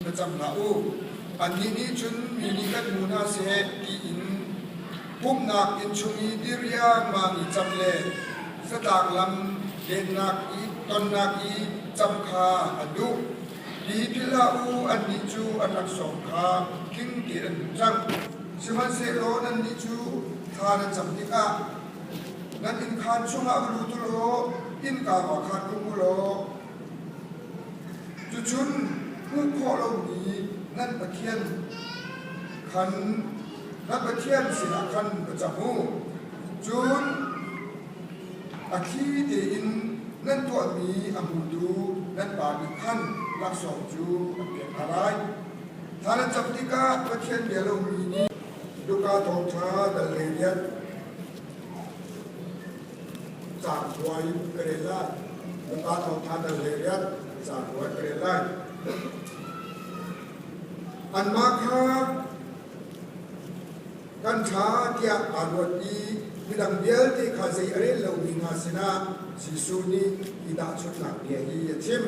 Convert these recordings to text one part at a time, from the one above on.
Va cam hlah u. Annih nih cun mi nih kan hmu hna seh tiin pumhnak inn chung i dir riangmang i cam le satang lam lennak i tonnak i cam kha a duh. Tipil hlah u, annih cu an rak sawm kha tling tein an hmuh cang. Sihmanhsehlaw nannih cu thla na cam tikah Nan innkhaan chungah va lut ulaw innka kua khan um ulaw cucun hmuh khawh lomi nan Pathian khan nan Pathian sinah khan va cam u. Cun a thli tein nan tuahmi a hmutu nan Pa nih khan laksawng cu an pek hna lai. Thla nan cam tikah Pathian bia lomi nih Luka thawngṭha dal he khin caan ruai ka rel lai. Luka thawngṭha dal he khin caan ruai ka rel lai. Anmah kha kan ṭha tiah aa ruat i midang vialte kha zei a rel lomi hna sinah Jesuh nih i tahchunhnak bia hi a chim.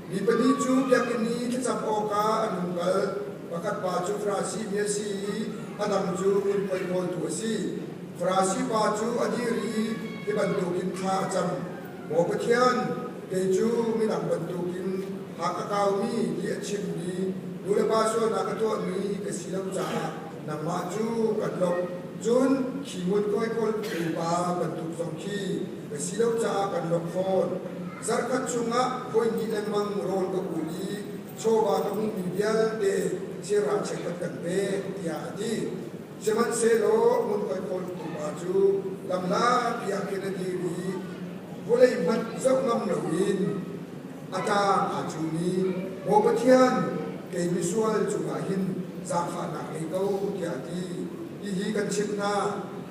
Mi pahnih cu biakinn i thlacam awkah an hung kal. Pakhat pa cu Farasi mi a si i a dang cu ngunkhuai hnawltu a si. Farasi pa cu a dir i hi bantukin thla a cam, Maw Pathian, kei cu midang bantukin ha ka kaumi ti a chimmi nulepa sualnak ka tuahmi ka si lo caah nangmah cu kan lawmh. Cun khi ngunkhuai khawltu pa bantuk zong khi si lo caah kan rak fawn. Zarhkhat chungah voihnih lengmang rawn ka kul i chawva ka hmumi vialte thilral chekkhat kan pek tiah a ti. Sihmanhsehlaw ngunkhuai khawl pumpa cu lamla tiah khin a dir i vawlei hmanh zoh ngam loin a tlang aa cung i Maw Pathian, kei misual cungah hin zaangfahnak ngei ko tiah a ti. Hihi kan chimh hna,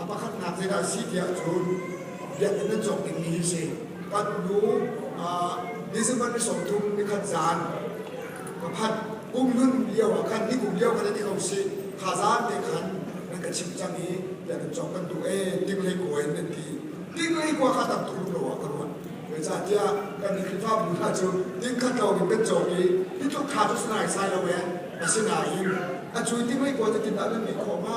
A pakhatnak zeidah a si tiah cun biakinn nan cawk dingmi hi si. Kan nu December ni sawmthum ni khat zaan ka phan kumhlun lio ah khan ni kum lio khan an i ko si kha zaan te khan nan ka chimh cang i biakinn cawk kan duh ee tinglei kua in nan ti tinglei kua kha tam thum lo ah ka ruat zeicahtiah kan ni Khrihfabu hna cu tin khat lo in kan cawk i hi tluk kha cu sanaisai lo ee asinain a cui tinglei kua cu tin a nunmi khawh ma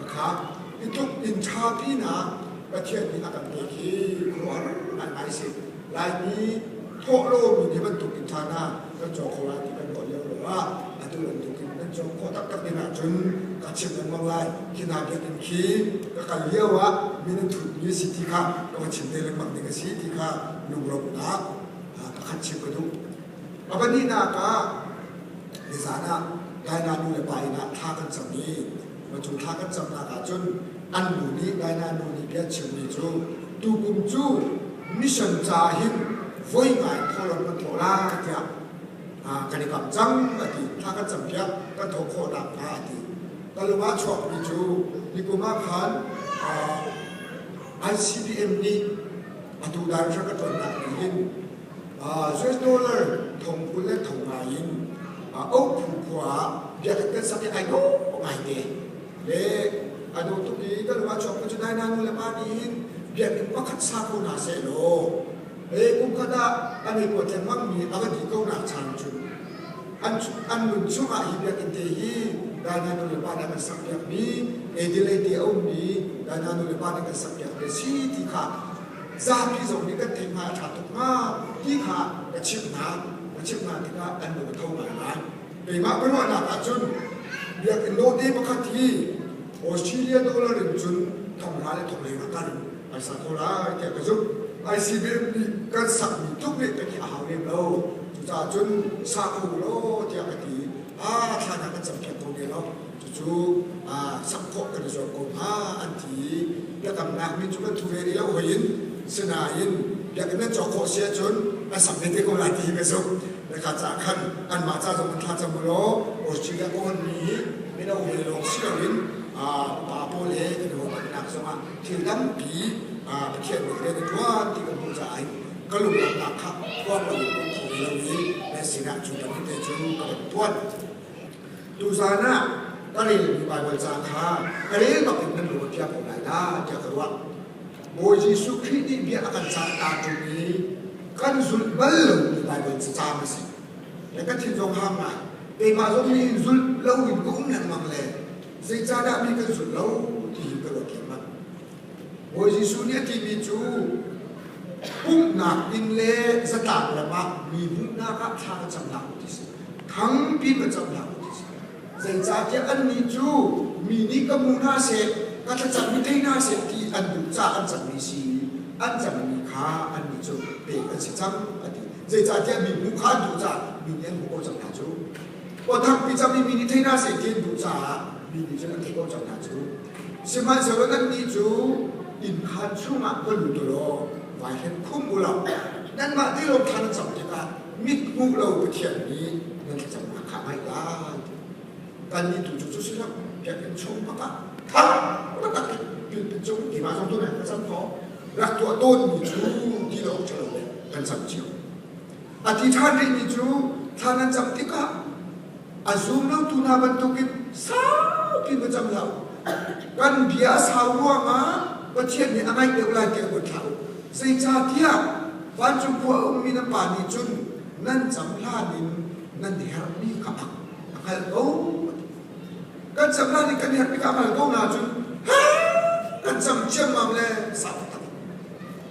a khat. I tuk in ṭha pinak Pathian nih a kan pek hi khuaruahhar ngaingai a si. Laimi thawh lomi nih bantuk in ṭhan ah kan caw kho lai ti kan ruah lio ruangah atu bantuk in kan caw khawh taktak ding ahcun ka chimh lengmang lai. Hi hna biakinn khi ka kal lio ah minun thutmi a si ti kha ka va chim ve lengmang ding a si ti kha lungrawmnak pakhat chim ka duh. A pahnihnak ah nizan ah Daina nu le pa inn ah thla kan cam i cu thla kan camnak ah cun an nu nih Daina nu nih bia chimmi cu tukum cu mission ca hin voi ngai thawlam kan thawh lai tiah kan i kam cang a ti thla kan cam piak kan thawh khawh nakhnga a ti talung ah chuakmi cu nikum ah khan ICBM nih atu dan hra ka tonnak in US dollar thong kul le thong ngai in uk phu khua ah biakhat kan sak i ai no ngai te le a no tuk i ka lung a chuak cu dai nanu le pa nih hin biakinn pakhat sa ko na se lo e kum khat ah an i kuat lengmang mi a va di ko nak chan cu an an nun chung ah hi biakinn te hi dainanu le pa nih kan sak piak mi edilei te a um mi dainanu le pa nih kan sak piak te si ti kha zapi zong nih kan theihma a ṭha tuk hnga ti kha ka chimh hna. Ka chimh hna tikah an lung a tho ngai lai. Keimah ka ruahnak ahcun biakinn dawhte pakhat hi Australia dollar in cun thongra le thongleng a kal phaisa thaw lai tiah ka zumh. ICBM nih kan sakmi tluk rih ka ti a hau lem lo. Cucaah cun sa kho u law tiah ka ti. A thlan ah ka cam kho ne lo. Cucu sak khawh kan i zuam ko hnga an ti i biakamnak min cu kan thu ve rih lo hoi in sinain biakinn an cawk khawh si ahcun an sak ve te ko lai ti hi ka zumh nakha ca khan anmah ca zong kan thla cam law Australia ka hon mi mino hawi lawng si loin pa pawl he kan ruahmannak zongah thil tampi Pathian nih rian a ṭuan ti kan hmuh caah ka lunglamnak kha phuang loin kan tho ve lo i nan sinah cu bantuk te cu ka van tuan. Tuzan ah ka rel mi Baibal caan kha ka rel bak in nan lung a piah ko lai dah tiah ka ruah. Bawi Jesuh Khrih nih bia a kan cah ta ṭung i kan zulh bal lomi Baibal caan a si. Le ka thin zong hang ngai. Keimah zong nih hin zulh lo in ka um lengmang le zeicahdah mi kan zulh lo ti hi ka ruat thiam manh. Bawi Jesuh nih a timi cu pumhnak inn le zatlang ram ah mi hmuhnak ah thla ka cam hlah u ti si. Thang pin ka cam hlah u ti si. Zeicahtiah annih cu mi nih ka hmu hna seh, ka thlacammi thei hna seh ti an duh caah an cangmi si i an cangmi kha annih cu pek an si cang a ti. Zeicahtiah mi hmuh kha an duh caah mi nih an hmuh ko cang hna cu. Aw thangpi cam i mi nih thei hna seh ti an duh caah mi nih cun an theih ko cang hna cu. Sihmanhsehlaw nannih cu innkhan chungah va lut u law vai hen khum u law nanmah tilawng thla na cam tikah mithmuh lo Pathian nih nan thlacamnak kha a ngaih lai. Kannih tu cu si lo biakinn chung pakah tha taktak in pilpit cung tiva zong tu nih kan cam kho rak tuah tawnmi cu ti lo ṭhalo le kan cam cio. A ti ṭhan rihmi cu thlan an cam tikah a zum lotu hna bantukin saupi va cam hlah kan bia a sau ruangah Pathian nih a ngaih deuh lai tiah ruat hlah u zeicahtiah vancung khua a ummi na pa nih cun nan cam hlan in nan herhmi kha a hngalh ko kan cam hlan in kan herhmi kha a hngalh ko hna cun kan cam ciammam le sau tak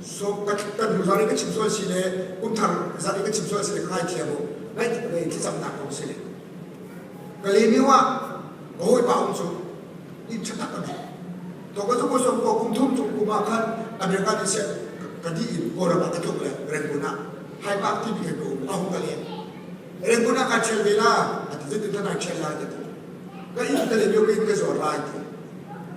So kan nu zar in kan chim sual si le kumthar zar in kan chim sual si le ka ngaithiam u ngaihtik le in thlacamnak kong si ka le ni wa ka hawi pa um cu in thatak kan to ka zung som ko kum thum chung kum ah khan America ni se ka di in Koram ah ka tluk le Renguna hai pak ti bi kan ko a hung ka le Renguna ka chel vela a ti zin tin na chel lai ti ka in ka le myo ka in ka zor lai ti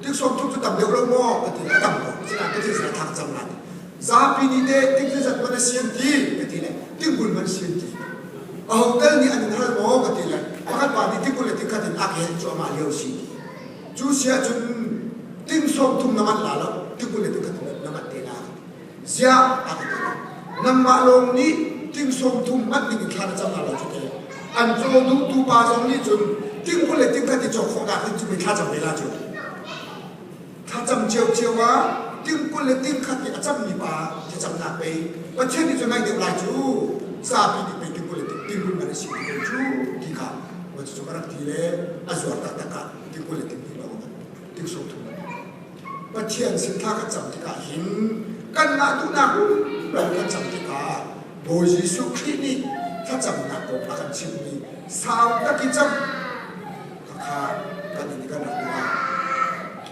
Tiksuak cu tu tam deuh lo maw ka ti. A tam ko. Sinah ka thil a thak cang lai. Zapi nih teh tik zeizat man a sian ti ka ti le tingul man sian ti. A hotel nih an in hal maw ka ti le a kan pa nih tingul le tikhat in a ka hen cuahmah lio si ti. Cu si ahcun ting sawm thum na manh la lo tingul le tikhat na manh te la. Ziah a ti nangmah lawng nih tingsawm thum hman ding thla na cam hna lo cu te an caw duhtu pa zong nih cun tingkul le tingkhat i cawk khawhnak ding cu mi thla cam ve la cu thla cam cio cio ah tingkul le tingkhat i a cammi pa thlacamnak pei Pathian nih cun ngai deuh lai cu zapi nih pei tingkul le tingkul ngan a si ti pei cu ti kha cucu ka rak ti le a zuar taktak ah tingkul le tingkul a um tingsawm thum Pathian sin thla kan cam tikah hin kanmah duhnak rumbel kan cam tikah Bawi Jesuh Khrih nih thlacamnak kong a kan chimhmi sau tak i cam kha kan in kan rak tikah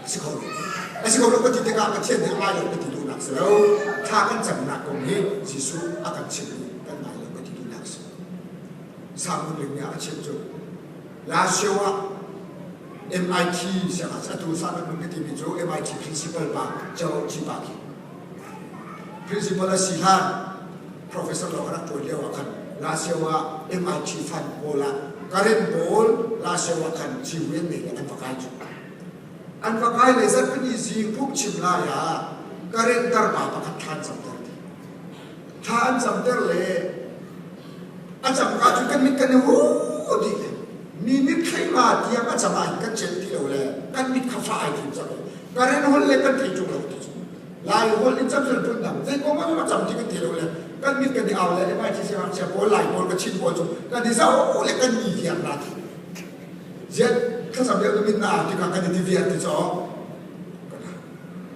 a si kho lo. A si ko lo ka ti tikah Pathian nih a ngai lo ka ti duhnak si lo. Thla kan camnak kong hi Jesuh a kan chimhmi kan ngai lo ka ti duhnak si. Salmon lim nih a chim cu, Last year ah MIT siangah atu Sahrang Nun ka timi cu MIT principal pa Cho Jipa khi principal a si hlan professor lo kan ṭuan lio ah khan Lazio ah MIT fan pawl ah Karen pawl Lazio ah khan GUN nei an va kai cu an va kai le zatpini zing pup chim lai ah Karen tarpa pakhat ṭhan cam ter dih Thla an camter le a cangka cu kan mit kan i hu dih le mi mit thleima tiang a cang ah kan cel ti lo le kan mit kha fa ai thim cang le karen hol le kan thei chung lo ti lai hol in cam sel pun dang zei kong ma ma cam ti kan ti lo le kan mit kan i au le mai chi se hak se pawl lai pawl ka chin pawl chu kan i zau le kan ni viang na ti zet ka sam deu min na ti ka kan i viang ti cho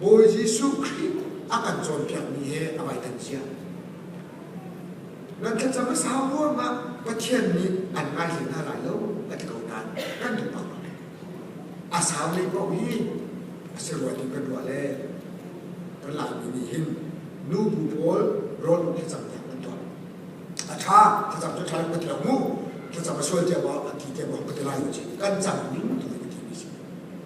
Bawi Jesuh Khrih a kan cawnpiakmi hi a vai thanchia. Nan thlacam a sau ruang ah Pathian nih an ngaihli hna lai lo a ti ko nain kan ning paoh a saule paoh hi a si rua tu kan ruah le kan Laimi nih hin nu bu pawl rawl thlacam tiang an tuah a tha thlacam cu tha ka ti lo mu thlacam a sual tiang a ti tiang ka ti lai lo ci kan cam ning tu ka ti mi si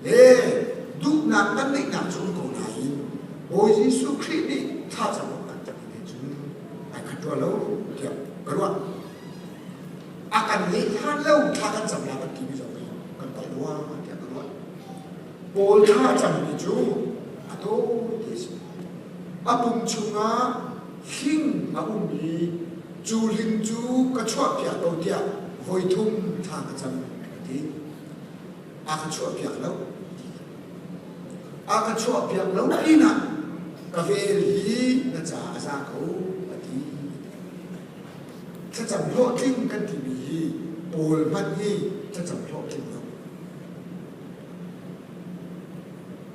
le duhnak kan ngeihnak cung ko nain Bawi Jesuh Khrih nih thlacam kan tangmi cu ai khat rua lo tiah ka ruah. A kan ngeih hlan lo thla kan cam la kan timi zong hi kan palh rua tiah ka ruah. Paul thla cangmi cu a taw ti a si. A pum chungah hling a ummi cu hling cu ka chuahpiak ko tiah voi thum thla ka cam ka ti. a ka chuahpiak lo a ka chuahpiak lo na in ah ka vel hi na ca a za ko a ti thlacam hlawhtling kan timi hi pawl hmanh hi thlacam hlawhtling lo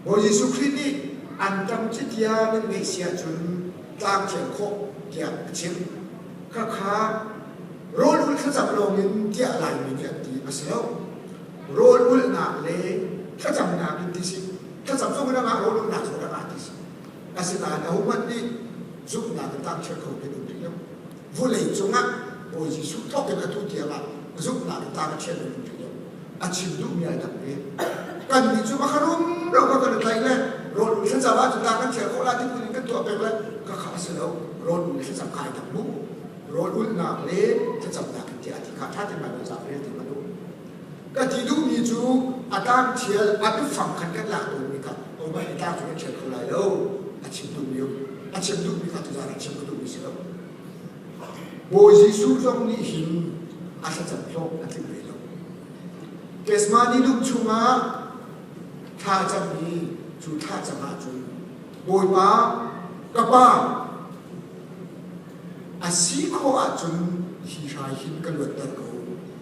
Bawi Jesuh Khrih nih an tam cutia nan ngeih sia cun tlang thial khawh tiah a chim khakha rawlulh thlacam lawngin tiah Laimi khi an ti a si lo rawlulhnak le thlacamnak in ti si thlacam chung in angah rawlulhnak chung in angah ti si asinain ahohmanh nih zumhnak in tangchiat kho kan um rih lo vulei cungah Bawi Jesuh thawk in atu tiangah zumhnak in tangchiat in um rih lo a chim duhmi ai dang ve kan nih cu ka rum lo ka kan tlaih le rawl nu thlacam ah cun kan thial ko la ti in kan tuah pek le ka kha si lo rawl nu thlacam kai dang mu rawl ulnak le thlacamnak ti a ti kha tha te ma lo za rel ti ma du ka ti duhmi cu a tang thial a bifang khat kan lak lo mi kan o ma hi tang cu kan thial kho lai lo a chim duhmi a chim duhmi ka tu za chim ka duhmi si lo Bawi Jesuh zong nih hin a thlacam hlawh a tling ve lo. Kesmani lam chungah thlacam hi cu thlacam ah cun Bawipa ka Pa a si khawh ahcun hi hrai hin ka luatter ko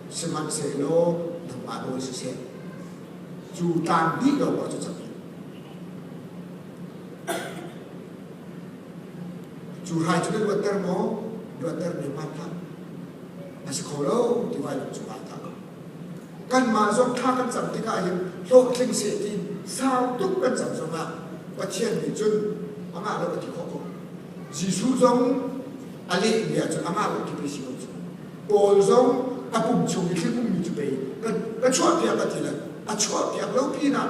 sihmanhsehlaw nangmah nawl siseh cu tlang hnih lawng ah cu cang. Cu hrai cu kan ruatter maw? Ruatter mi hmai tah? A si kho lo tiva cu ah tah. Kanmah zong thla kan cam tikah hin hlawhtling seh ti sau tuk kan cam zongah Pathian nih cun amah lo a ti khawh ko. Jesuh zong a lehmi ahcun amah lo ti pe si ko cu. Paul zong a pum chung i thil ummi cu pei ka chuahpiak a ti le a chuahpiak lo pinah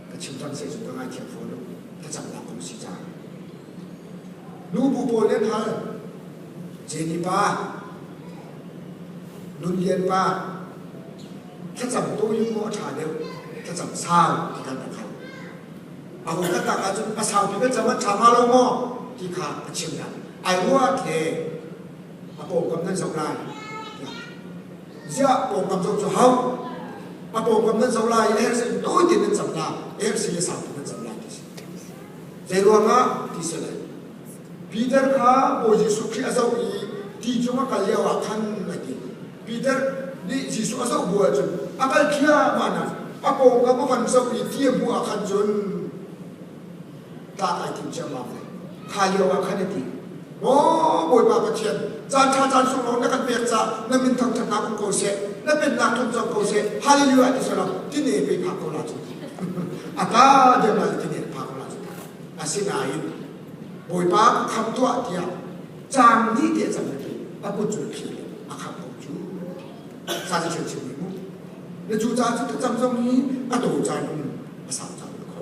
ka chimtang sei cu ka ngaithiam fawn thlacamnak kong si ca nubu pawl len hal jeni pa nun lian pa thlacam to yu maw tha deuh thlacam sau ti kan kho a ko ka tak ahcun pasau pi ka cham an tha ma lo maw ti kha a chim da ai ruat le a pawm kam nan zau lai ziah pawngkam zong cu hau a pawngkam nan zoh lai ersi tawi te nan cam la ersi a sang nan cam la ti si zei ruangah ti si lai Peter kha Bawi Jesuh Khrih a zoh i ti cung a kal lio ah khan a ti Peter nih Jesuh a zoh bu ah cun a kal thliahmah nak a pawngkam a van zoh i ti a hmuh ah khan cun tlak ai tim ciammam le kha lio ah khan a ti oh bawipa pathian caan ṭha caan sung lo na kan pek ca na min thangṭhatnak um ko seh na pennak tlung cang ko seh hallelujah ti sala tine pe phak ko la cu a ta dem la tine phak ko la cu asinain bawipa kham tuah tiah caan ni te cang le a put cu khi a kham ko cu sa si chen chen mu na cu ca cu ka cang zong ni a to cang a sau cang ko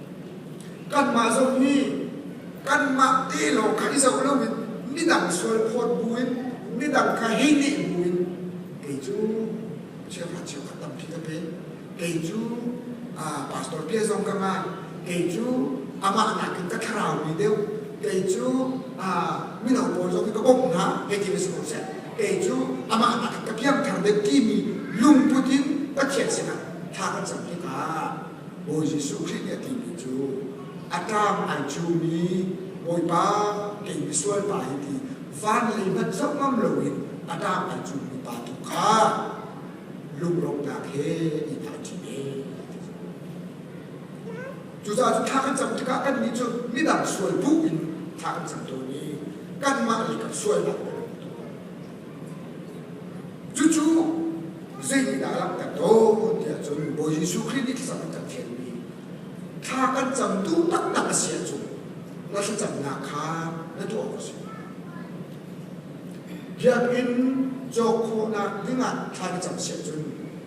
Kanmah zong hi kanmah te lawng kha i zoh lo in midang sualphawt bu in midang kha hi nih bu in kei cu cheukhat cheukhat tampi ka pe kei cu pastor pia zong ka ngah kei cu amah nakin ka thlarau mi deuh kei cu mino pawl zong hi ka bawmh hna hei ti si ko seh kei cu amah nakin ka piangthar deuh timi lungput in Pathian sinah thla kan cam hi ka Bawi Jesuh Khrih nih a timi cu, A ṭang ai cumi Bawipa, kei misual pa hi ti van lei hmanh zohngam loin a ṭang ai cumi pa tu kha lungrawmhnak he i thaicih ve. Cucaah cu thla kan cam tikah kannih cu midang sual bu in thla kan cam tawn i kanmah lei kan sualnak Cucu zeitindah a langhter tawn tiah cun Bawi Jesuh Khrih nih thlacam a kan fialmi thla kan cam duh taktak a si ahcun na thlacamnak kha na tuah awk a si. Biakinn cawk khawhnak ding ah thla ka cam si ahcun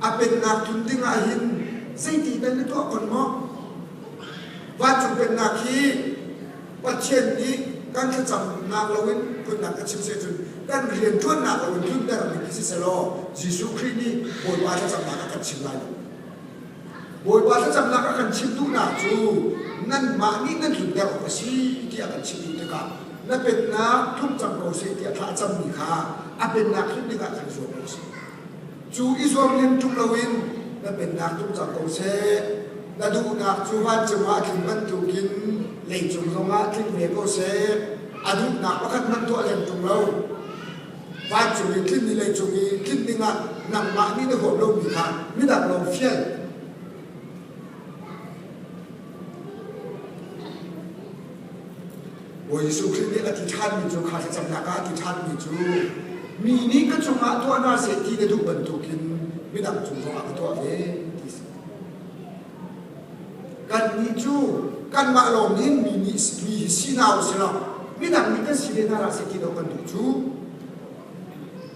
a pennak tlun ding ah hin zeiti tal na tuah kon maw vancung pennak hi Pathian nih kan thlacamnak loin phunnak a chim se cun kan rian ṭuannak loin tluntermi khi siselaw Jesuh Khrih nih Bawipa thlacamnak a kan chim lai lo Bawipa thlacamnak a kan chim duhnak cu nanmah nih nan tlunter awk a si ti a kan chimh dih tikah na pennak tlung cang ko seh tiah thla a cammi kha a pennak him dingah kan zuam ko seh Cu i zuarlian ṭum loin na pennak tum cang ko seh. Na duhnak cu van cungah tling bantukin leicung zongah tling ve ko seh. A duhnak pakhat hmanh tuah lem ṭung lo. Vancung i tlinmi leicung i tlinh dingah nangmah nih na huam lomi kha midang lawng fial. Bawi Jesuh Khrih nih a ti ṭhanmi cu kha thlacamnak ah a ti ṭhanmi cu mi nih ka cungah tuah hna seh ti na duh bantukin midang cung zongah ka tuah ve ti si. Kannih cu kanmah lawng in mi nih mi hi si hna u sih law midang nih kan si ve hna hlah seh ti lo kan duh cu.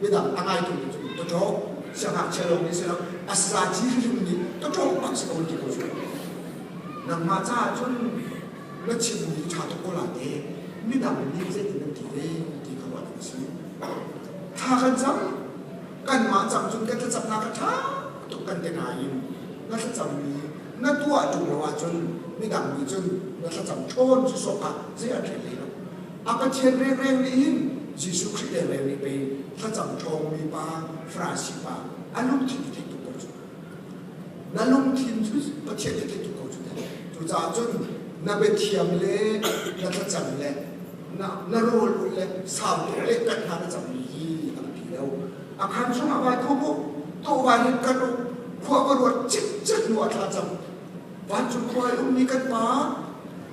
midang a ngai tumi cu tawṭaw siangngakchia lawng nih si lo a saci hrim nih tawṭaw bak si ko ti ko cu nangmah caah cun na chimmi ṭha tuk ko la te midang nih zeitin an ti ve ti kha ruat a si thla kan cam kanmah cang cun kan thlacamnak a ṭha tuk kan ti nain na thlacammi na tuah ṭung lo ahcun midang nih cun na thlacam ṭhawn cu sok ah zei a ṭha hlei lo A Pathian rengreng nih hin Jesuh Khrih rengreng nih pei thlacam ṭhawngmi pa, Farasi pa, a lungthin cu theih tuk ko cu. Na lungthin cu Pathian cu theih tuk ko cu teh. Cucaah cun na biathiam le na thlacam le na, na rawl ulh le sautuk le tat hna na cammi hi a biapi lo. A khan chungah vai thawm u, tuah vai hin kal u, khua va ruat cikcek hnu a thlacam. Vancung khua i ummi kan Pa,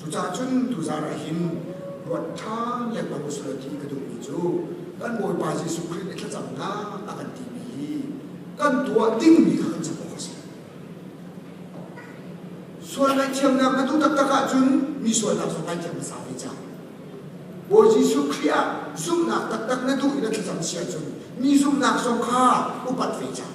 Cucahcun tuzar ah hin ruat ṭhan lengmang u sih ti ka duhmi cu kan Bawipa Jesuh Khrih i thlacamnak a kan timi hi kan tuah dingmi kha kan cam awk a si. Sual ngaihthiamnak na duh taktak ahcun mi sualnak zong ngaihthiam hmasa ve cang. Bawi Jesuh Khrih ah zumhnak taktak na duh i na thlacam si ahcun mi zumhnak zong kha upat ve cang.